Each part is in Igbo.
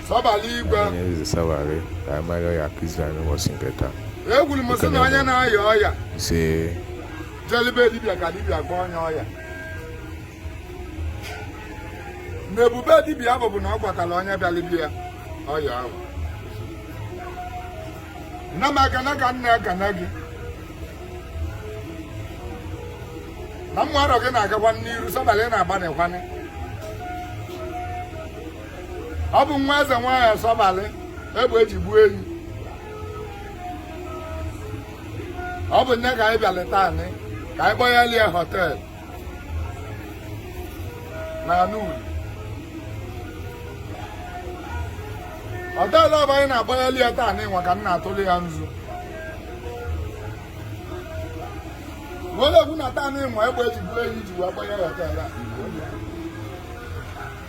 eze sabalị ka anyị mara ọya ka izrel n'ụbọchị nke taa ekwuru m sị na onye na-aya ọya ise jeli be dibịa ka dibịa gwa onye ọya na ebube dibịa bụ bụ na ọ gwọtara onye bịara be ya ọya ahụ nna m ekene ka m na-ekene gị na ụmụ arọ gị na-agakwa n'iru sabalị na-agbanịkwanị ọ bụ nwa eze nwaanyị asọbalị egbe eji gbuo enyi ọ bụ ya ka anyị bịalị taanị ka anyị kpọyalị ya họtel na aṅụlị họtel ọ bụ anyị na-akpọyalị ya taanị nwa ka m na-atụli ya nzu wele ekwu na taanị nwa egbe eji gbuo enyi ji wee kpọọ ya họtel a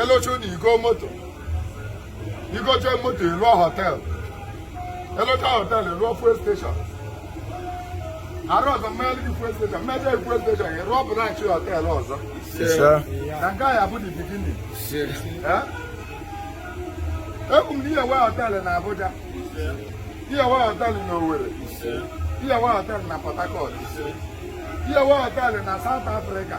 ị lụchaa ụlọ i goo moto i gochaa moto ị lụọ họteelụ ị lụchaa họteelụ ị lụọ fuel station arọ ọzọ m meeli gị fuel station m mechaa fuel station ị rụọ branch họteelụ ọzọ na nke a bụ the beginning ekwu m na ị ya-enwe họteelụ na Abuja ị ya-enwe họteelụ na Owerri ị ya-enwe họteelụ na Port Harcourt ị ya-enwe họteelụ na South Africa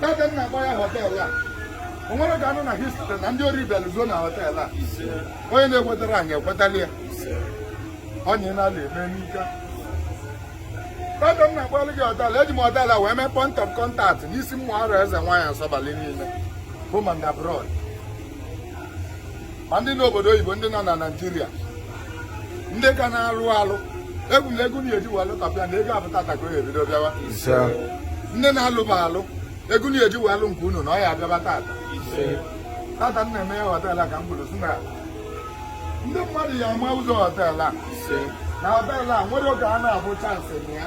taa ka m na-agba ya họteelụ a o nwerọ ka a nụ na history na ndị ori bịalụ zuo na họteelụ a onye na-ekwetara anyị ekwetala ya onye na-ala eme n'ike taa ka m na-agbalụ gị họteelụ eji m họteelụ a wee mee point of contact n'isi ụmụ arọ eze nwaanyị asọbalị niile bụ ma ndị abroad ma ndị n'obodo oyibo ndị nọ na naijiria ndị ka na-alụ alụ ekwu m na ego unu ya-eji wee lụtapịa na ọ bụ tata ka o ebido bịawa ndị na-alụbe alụ ego unu ya-eji wee lụọ nke unu na ọ ya-abịaba tata tata m na-emeye họtel a ka m kwuru sị na ndị mmadụ ya-ama ụzọ họtel a na họtel a nwere oge a na-abụ chance na ya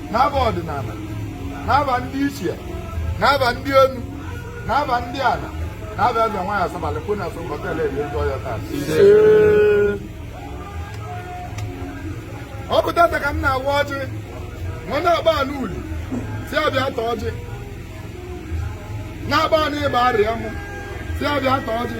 n'afa ọdịnana n'afa ndị ichie n'afa ndị enu n'afa ndị ana n'afa eze nwaanyị asabalị kwụ na so họtel eri ndị ọya taa ọ bụ tata ka m na-awa ọjị nwa na-agba anụ Uli sị a bịa taa ọjị na-agba anụ Igbariam sị a bịa taa ọjị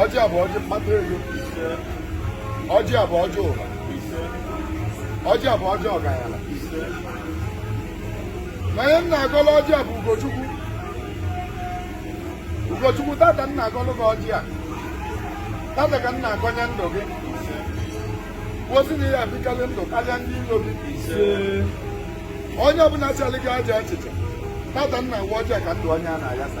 ọjị a bụ ọjị mkpata ego ise ọjị a bụ ọjị ụba ise ọjị a bụ ọjị ọgaranya ise na onye m na-agọlụ ọjị a bụ ugochukwu ugochukwu tata m na-agọlụ gị ọjị a tata ka m na-agọnye ndụ gị ozi na ị ya-ebikarị ndụ karịa ndị ilo gị onye ọbụla chụọrọ gị aja achịcha tata m na-awa ọjị a ka ndụ onye a na-ayasa